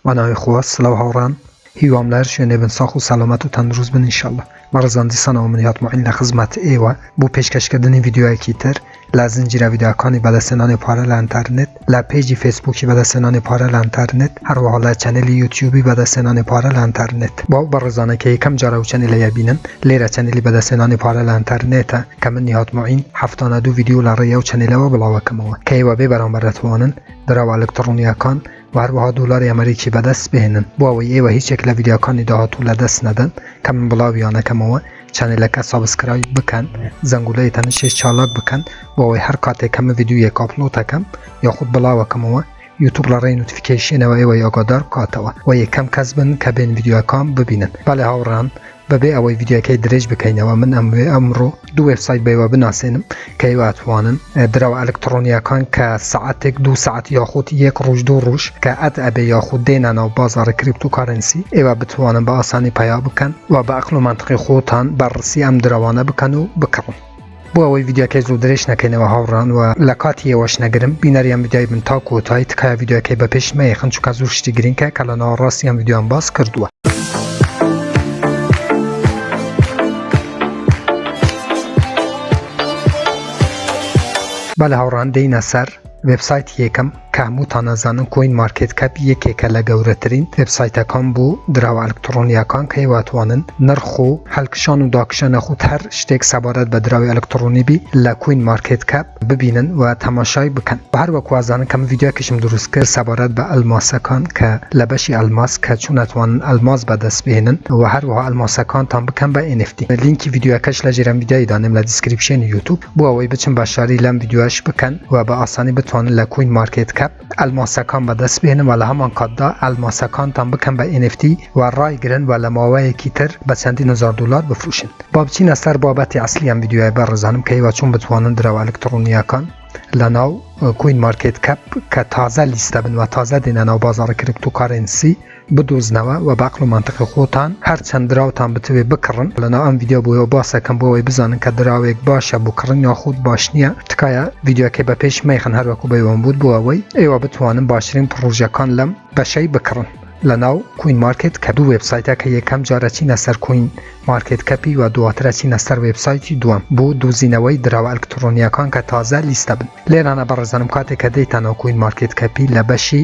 بەناوی خوا سلاو هاوڕان هیوام لەهەر شوێنێ بن ساخ و سەلامەت و تەندروست بن انشاللە بەڕێزان دیسانەوە من هاتمە عین لەخزمەت ئێوە بۆ پێشکەش کردنی ڤیدیۆیەکی تر لە زنجیرە ڤیدیۆکانی بەدەستهێنانی پارە لە ئەنتەرنێت لە پێجی فەیسبووکی بەدەستهێنانی پارە لە ئەنتەرنێت هەروەها لە چەنێلی یوتیوبی بەدەستهێنانی پارە لە ئەنتەرنێت بۆ ئەو بەڕێزانە کە یەکەم جارە و چەنێلە یەبینن لێرە چەنێلی بەدەستهێنانی پارە لە ئەنتەرنێتە کە من نیهات معین هەفتانە دوو ڤیدیۆ لە ڕێی ئەو چەنێلەوە بڵاوەکەمەوە کە ئێوە بێ بەرامبەر دەتوانن دراوە ئەلکتڕۆنییەکان و هەروەها دۆلاری ئەمەریکی بەدەست بهێنن بۆ ئەوەی ئێوە هیچ یەک لە ڤیدیۆکانی داهاتوو لە دەست نەدەن کە من بڵاویانەکەمەوە چەنێلەکە سابسکرایب بکەن زەنگولەی تەنشێش چالاک بکەن بۆ ئەوەی هەر کاتێک کە من ڤیدیۆیەک ئاپلۆتەکەم یاخود بڵاوەکەمەوە یوتوب لە ڕێی نوتفیکەیشنەوە ئێوە یاگادار بکاتەوە و یەکەم کەس بن کە بێن ڤیدیۆکان ببینن بەڵێ هاوڕان بەبێ ئەوەی ڤیدیۆکەی درێژ بکەینەوە من ئەموێ ئەمڕۆ دوو وێبسایت بەوە بناسێنم کە ئەتوانن دراوە ئەلکترۆنیەکان کە سعاتێک دو سعات یاخود یەک ڕۆژ دوو ڕۆژ کە ئەت ئەبێ یاخود دێنانە و بازاری کریپت و کارەنسی ئێوە بتوانن بە ئاسانی پەیا بکەن و بە ئەقل و مەنتقی خۆتان بەرڕسی ئەم دراوانە بکەن و بکڕن. بۆ ئەوەی ڤیدیۆکەی زوو درێژ نەکەینەوە هاوڕان وە لە کاتی ئێوەش نەگرم بینەری ئەم ڤیدیۆی بن تا کۆتای تکایە ڤیدیۆکەی بە پێش مەیەخن چونکە زوو شتی گرینکە کە لە ناوەڕاستی ئەم ڤیدیۆم باس کردووە. بەلێ هاوڕان دێینە سەر وێبسایتی یەکەم. کە هەمووتان ئەزانن کۆین مارکێت کەپ یەکێکە لە گەورەترین وێبسایتەکان بۆ دراوە ئەلکتڕۆنییەکان کە ئەیواتوانن نرخ و هەلکشان و داکشە نەخوت هەر شتێک سەبارەت بە دراوی ئەلکتڕۆنی بی لە کوین مارکێت کەپ ببینن و تەماشای بکەن و هەر وەک وازانن کە من ڤیدیۆکیشم دروست کرد سەبارەت بە ئەلماسەکان کە لە بەشی ئەلماس کە چۆن ئەتوانن ئەلماس بەدەست بهێنن و هەروەها ئەلماسەکانتان بکەن بە NFT لینکی ڤیدیۆکەش لە ژێرەم ڤیدیۆی دانێم لە دیسکریپشێنی یوتوب. بۆ ئەوەی بچن بەشداری لەم ڤیدیۆیەش بکەن و بە ئاسانی بتوانن لە کوین مارکێت کەپ ئەلماسەکان بەدەست بهێنن و لە هەمان کاتدا ئەلماسەکانتان بکەن بە NFT و ڕایگرن و لە ماوەیەکی تر بە چەندین هەزار دۆلار بفروشن با بچینە سەر بابەتی ئەسلی ئەم ڤیدیۆیە بەڕێزانم کە ئێوە چۆن بتوانن درەوە ئەلکتڕۆنییەکان لە ناو کوین مارکێت کەپ کە تازە لیست دەبن و تازە دێنە ناو بازاڕی کرپتۆکارێنسی بدۆزنەوە وە بەعقل و مەنتقی خۆتان هەر چەند دراوتان بتەوێ بکڕن لەناو ئەم ڤیدیۆ بۆیەوە باسەکەم بۆ ئەوەی بزانن کە دراوێک باشە بۆ کڕن یاخود باش نییە تکایە ڤیدیۆکەی بە پێش مەیخەن هەر وەکو بەیوەم بوت بۆ ئەوەی ئێوە بتوانن باشترین پڕۆژەکان لەم بەشەی بکڕن لەناو کوین مارکێت کە دوو وێبسایتە کە یەکەم جارە چینە سەر کوین مارکێت کەپی و دواترە چینە سەر وێبسایتی دووەم بۆ دۆزینەوەی دراوە ئەلکترۆنیەکان کە تازە لیستە بن لێرانە بەڕێزانم کاتێک کە دەیتانەوە کوین مارکێت کەپی لە بەشی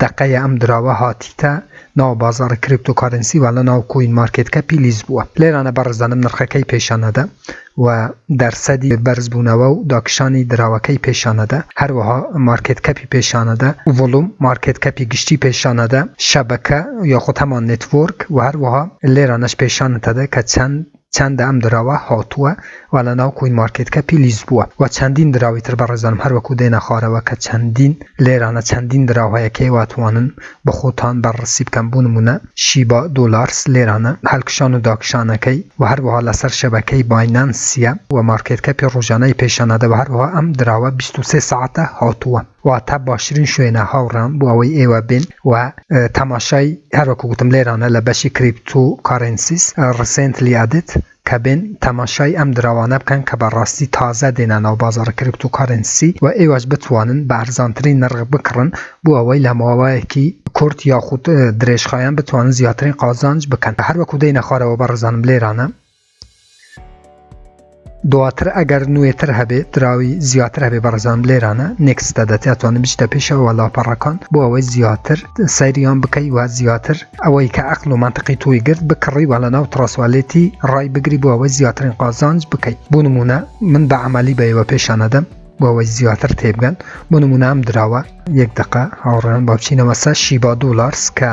دەقەیە ئەم دراوە هاتیتە ناو بازاڕی کریپتۆ کارنسی و لەناو کوین مارکێت کەپی لیست بووە لێرانە بەڕێزانم نرخەکەی پێشان ئەدا و دەرسەدی بەرز بوونەوە و داکشانی دراوەکەی پێشان ئەدا هەروەها مارکێت کەپی پێشان ئەدا ڤۆڵوم مارکێت کەپی گشتی پێشان ئەدا شەبەکە یاخود هەمان نێتوۆرک و هەروەها لێرانەش پێشانت ئەدا کە چەند چەندە ئەم دراوە هاتووە و لە ناو کوین مارکێت کەپی لیست بووە و چەندین دراوی تر بەڕێزانم هەر وەکو دێنە خوارەوە کە چەندین لێرانە چەندین دراو هەیە کێ واتوانن بە خۆتان بەرڕسی بکەن بو نمونە شیبا دۆلارس لێرانە هەلکشان و داکشانەکەی و هەروەها لەسەر شەبەکەی باینانسیە و مارکێت کەپی ڕۆژانەی پێشانەدە و هەروەها ئەم دراوە بیست و سێ سەعاتە هاتووە. واتە باشترین شوێنە هاوڕام بۆ ئەوەی ئێوە بێن و تەماشای هەر وەکو گوتم لێرانە لە بەشی کریپتو کارێنسیس ڕیسێنتلی ئەدد کە بێن تەماشای ئەم دراوانە بکەن کە بە ڕاستی تازە دێنە ناو بازاڕی کریپتو کارێنسی و ئێوەش بتوانن بە ئەرزانترین نرخ بکڕن بۆ ئەوەی لە ماوەیەکی کورت یاخود درێژخایەن بتوانن زیاترین قازانج بکەن هەر وەکو دێنە خوارەوە بەڕێزانم لێرانە دواتر ئەگەر نوێتر هەبێ دراوی زیاتر هەبێ بەڕزان لێرانە نێکستە دەتیا توانن بچتە پێشەوە لاپەڕەکان بۆ ئەوەی زیاتر سەیریان بکەی و زیاتر ئەوەی کە ئەقل و منطقی تۆی گرت بکڕی وە لە ناو تڕاسوالێتی ڕای بگری بۆ ئەوەی زیاترین قازانج بکەیت بۆ نمونە من بە عملی بەەوە پێشانەدەم بۆەوەی زیاتر تێبگەن بۆ نمونام دراوە یەک دقە هاوڕێن باچینەوەسە شیبا دولارس کە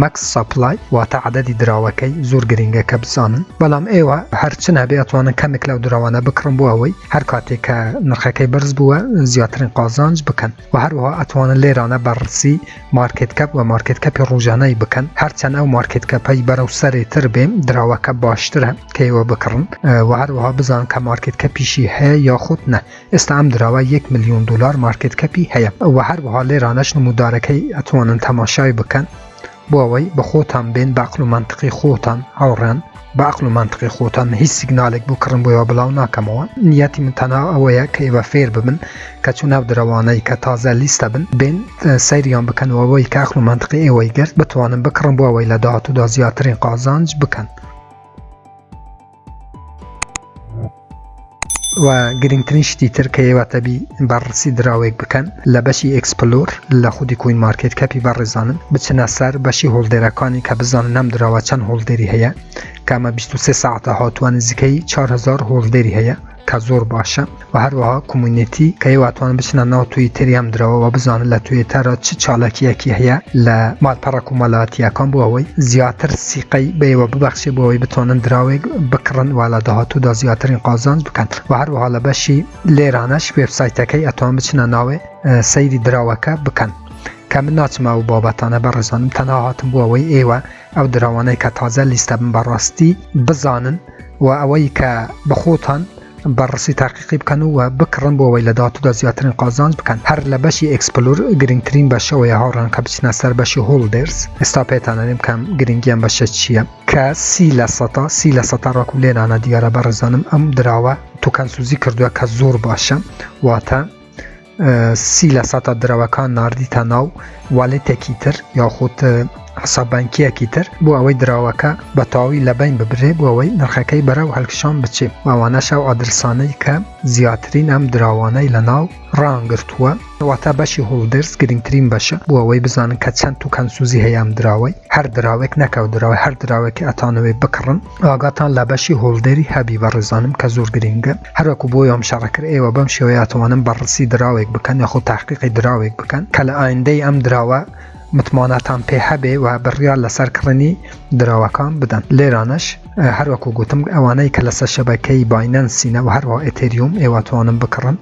Max Supply واتە عەدەدی دراوەکەی زۆر گرینگە کە بزانن بەڵام ئێوە هەر چ نەبێ ئەتوانن کەمێک لەو دراوانە بکڕن بۆ ئەوەی هەر کاتێک کە نرخەکەی بەرز بووە زیاترین قازانج بکەن و هەروەها ئەتوانن لێرانە بەڕسی مارکێت کەپ و مارکێت کەپی ڕۆژانەی بکەن هەرچەند ئەو مارکێت کەپەی بەرەو سەرێ تر بێ دراوەکە باشترە کەیوە بکڕن و هەروەها بزان کە مارکێت کەپیشی هەیە یاخود نە ئێستا ئەم دراوە یەک ملیۆن دۆلار مارکێت کەپی هەیە وە هەروەها لێرانەش نمودارەکەی ئەتوانن تەماشای بکەن بۆ ئەوەی بە خۆتان بێن بە عەقڵ و مەنتقی خۆتان هاوڕێن بە عەقڵ و مەنتقی خۆتان هیچ سیگنالێک بۆ کڕن بۆیەوە بڵاو ناکەمەوە نیەتی من تەنها ئەوەیە کە ئێوە فێر ببن کە چوو ناو درەوانەی کە تازە لیستە بن بێن سەیریان بکەنەوەەوەی کە عەقڵ و مەنتقی ئێوەی گرت بتوانن بکڕن بۆ ئەوەی لە داهاتوودا زیاترین قازانج بکەن و گرنگترین شتی تر کە ئێواتەبی بەڕسی دراوێک بکەن لە بەشی ئەکسپلۆر لە خودی کوین مارکت کەپی بەڕێزانن بچنە سەر بەشی هۆڵدێرەکانی کە بزانن نەم دراوە چەند هۆڵدێری هەیە کامە 23 ساعتە هاتووە نزیکەی 4هزار هۆڵدێری هەیە کە زۆر باشە وە هەروەها کۆمونیتی کەی واتوان بچنە ناو توی تریام درەوە وە بزانن لە توێ تەرە چ چاالکیەکی هەیە لە مالپەڕە کومەلاتیەکان بۆ ئەوەی زیاتر سیقەی بەیوە ببەخشێ بۆ ئەوەی بتوانن دراوێک بکڕن و لە داهاتوودا زیاترین قازانج بکەن و هەروەها لە بەشی لێرانەش وێبسایتەکەی ئەتوان بچنە ناوێ سەیری دراوەکە بکەن کە من ناچمە و بابەتانە بەڕێزانم تەنها هاتم بۆ ئەوەی ئێوە ئەو دراوانەی کە تازە لیستە بن بە ڕاستی بزانن و ئەوەی کە بە خۆتان بە ڕسی تاقیقی بکەن و بکڕن بۆ ئەوەی لە داهاتوودا زیاترین قازانج بکەن هەر لە بەشی ئێکسپلور گرنگترین بەشەوەیە هاوڕێیان کە بچنە سەر بەشی هۆڵدێرز ئێستا پێتان ئەڵێم کەم گرنگی ئەم بەشە چییە کە سی لە سەتا سی لە سەتا ڕاکو لێ نانە دیارە بەڕێزانم ئەم دراوە توکەن سوزی کردووە کە زۆر باشە واتە سی لە سەتا درەوەکان ناردیتە ناو والێتێکی تر یاخود حساب بانکیەکی تر بۆ ئەوەی دراوەکە بە تەواوی لە بین ببرێ بۆ ئەوەی نرخەکەی بەرەو هەلکشان بچێ و ئەوانەش ئەو ئادرسانەی کە زیاترین ئەم دراوانەی لە ناو ڕان گرتووە واتە بەشی هۆڵدەرز گرنگترین بەشە بۆ ئەوەی بزانن کە چەند توکەن سوزی هەیە ئەم دراوەی هەر دراوێک نەکەو دراوە هەر دراوێکی ئەتانەوەی بکڕن ئاگاتان لە بەشی هۆڵدەری هەبی بەڕێزانم کە زۆر گرینگە هەروەکو بۆ یۆم شەڕە کرد ئێوە بەم شێوەیە ئەتوانن بەڕسی دراوێک بکەن یاخۆ تاقیقی دراوێک بکەن کە لە ئایندەی ئەم دراوە متمانەتان پێ هەبێ و بڕیار لەسەر کڕنی دراوەکان بدەن لێرانەش هەروەکو گوتم ئەوانەی کە لەسەر شەبەکەی باینەنسینە و هەروە ئەتەریوم ئێوەتوانم بکڕن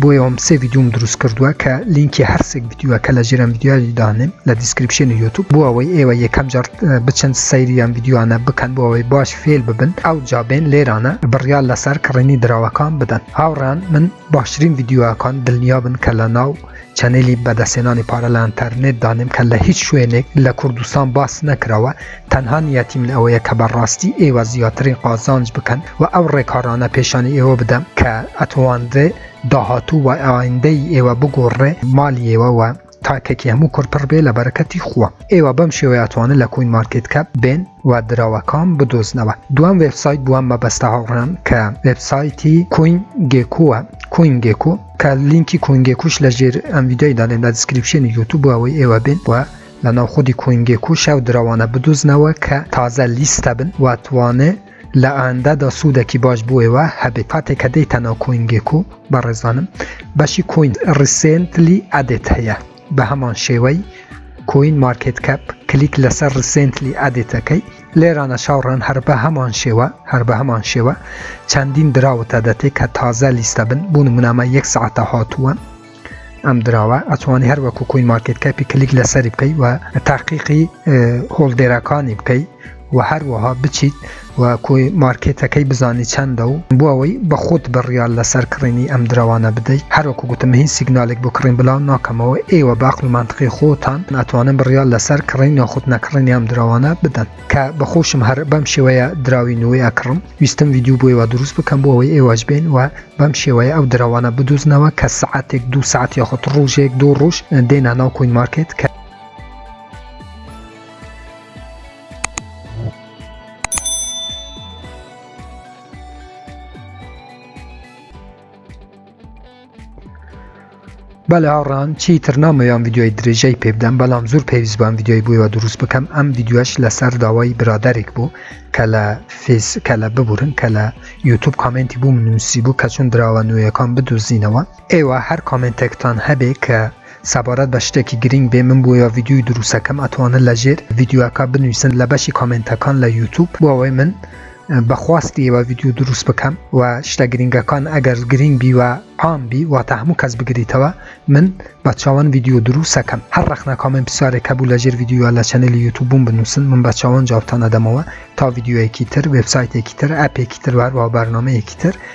بۆیەوەم سێ ڤیدیۆم دروست کردووە کە لینکی هەر سێک ڤیدیۆ کە لە ژێرم ڤیدیۆ دانێم لە دیسکریپشنی یوتوب بۆ ئەوەی ئێوە یەکەم جار بچن سەیری ئەم ڤیدیۆیانە بکەن بۆ ئەوەی باش فێر ببن ئەو جابێن لێرانە بڕیار لەسەر کڕینی دراوەکان بدەن هاوڕان من باشترین ڤیدیۆکان دڵنیا بن کە لە ناو چەنێلی بەدەستێنانی پارە لە ئەنتەرنێت دانێم کە لە هیچ شوێنێک لە کوردستان باس نەکراوە تەنها نیەتی من ئەوەیە کە بە ڕاستی ئێوە زیاترین قازانج بکەن و ئەو ڕێکارانە پێشانی ئێوە بدەم کە ئەتوانرێ داهاتوو و ئایندەی ئێوە بگۆڕێ مالی ئێوە و تاکێکی هەموو کورد پڕ بێ لە بەرەکەتی خوا ئێوە بەم شێوەیە ئەتوانن لە کوین مارکێت کەپ بێن و دراوەکان بدۆزنەوە دوام وێبسایت بووە مەبەستە هاوڕان کە وێبسایتی کوین گێکووە کوین گێکو کە لینکی کوینگێکوش لە ژێر ئەم ویددیوی دانێن لە دیسکریپشنی یوتوب بۆ ئەوەی ئێوە بێن و لە ناو خودی کۆینگێک و شاو درەوانە بدوزنەوە کە تازە لیستە بن و توانێ لە ئاندە دا سودەکی باش بۆ ئێوە هەبێ کاتێ کە دێیتە ناو کۆینگێک و بەڕێزانم بەشی کۆین ڕیسێنتلی ئەدێت هەیە بە هەمان شێوەی کۆین مارکێت کەپ کلیک لەسەر ڕیسێنتلی ئەدێتەکەی لێرانە شاوڕان هەر بە هەمان شێوە هەر بە هەمان شێوە چەندین دراوتە دەتێ کە تازە لیستە بن بوون منامە یەک سعاتە هاتووە ئەم دراوە ئەتوانی هەر وەکو کوین مارکت کەپی کلیک لەسەری بکەی و تاقیقی هۆڵدێرەکانی بکەی و هەروەها بچیت و کۆی مارکێتەکەی بزانی چەندە و بۆ ئەوەی بە خۆت بڕیال لەسەر کڕینی ئەم دراوانە بدەیت هەروەکو گوتم هیچ سیگنالێک بۆ کڕین بلاو ناکەمەوە ئێوە باق و منتقی خۆتان ناتوانن بڕیال لەسەر کڕین یاخود نەکڕین ئەم دراوانە بدەن کە بەخۆشم هەر بەم شێوەیە دراوی نوێ ئەکڕم ویستم ویددیو بۆیەوە دروست بکەم بۆ ئەوەی ئێوەش بێن و بەم شێوەیە ئەو درەوانە بدوزنەوە کە سەعاتێک دوو سەعات یاخود ڕوژێک دوو ڕوژ دێنا ناو کوین مارکێت کە بەلێ هاوڕێیان چیتر نامەوێ ئەم ڤیدیۆیە درێژەی پێ بدەم بەڵام زۆر پێویست بووم ڤیدیۆی بۆیەوە دروست بکەم ئەم ڤیدیۆش لەسەر داوای برادەرێک بوو کە لە فیس کە لە ببورن کە لە یوتوب کامنتی بووم نووسی بوو کە چون دراوە نوێیەکان بدوزینەوە ئێوە هەر کامنتێکتان هەبێ کە سەبارەت بە شتێکی گرنگ بێ من بۆیە ڤیدیوی دروستەکەم ئەتوانن لە ژێر ڤیدیوەکە بنووسن لە بەشی کامنتەکان لە یوتوب بۆ ئەوەی من بە خواستی ئێوە ڤیدیۆ دروست بکەم و شتە گرنگەکان ئەگەر گرنگ بی و عام بی واتە هەموو کەس بگریتەوە من بە چاوان ڤیدیۆ دروستەکەم هەر ڕەخنە کامنت پرسیارێک هەبوو لە ژێر ڤیدیۆ لە چەنەلی یوتوبوم بنووسن من بە چاوان جوابتان ئەدەمەوە تا ڤیدیۆیەکی تر وێبسایتێکی تر ئەپێکی تر و هەروە بەرنامەیەکی تر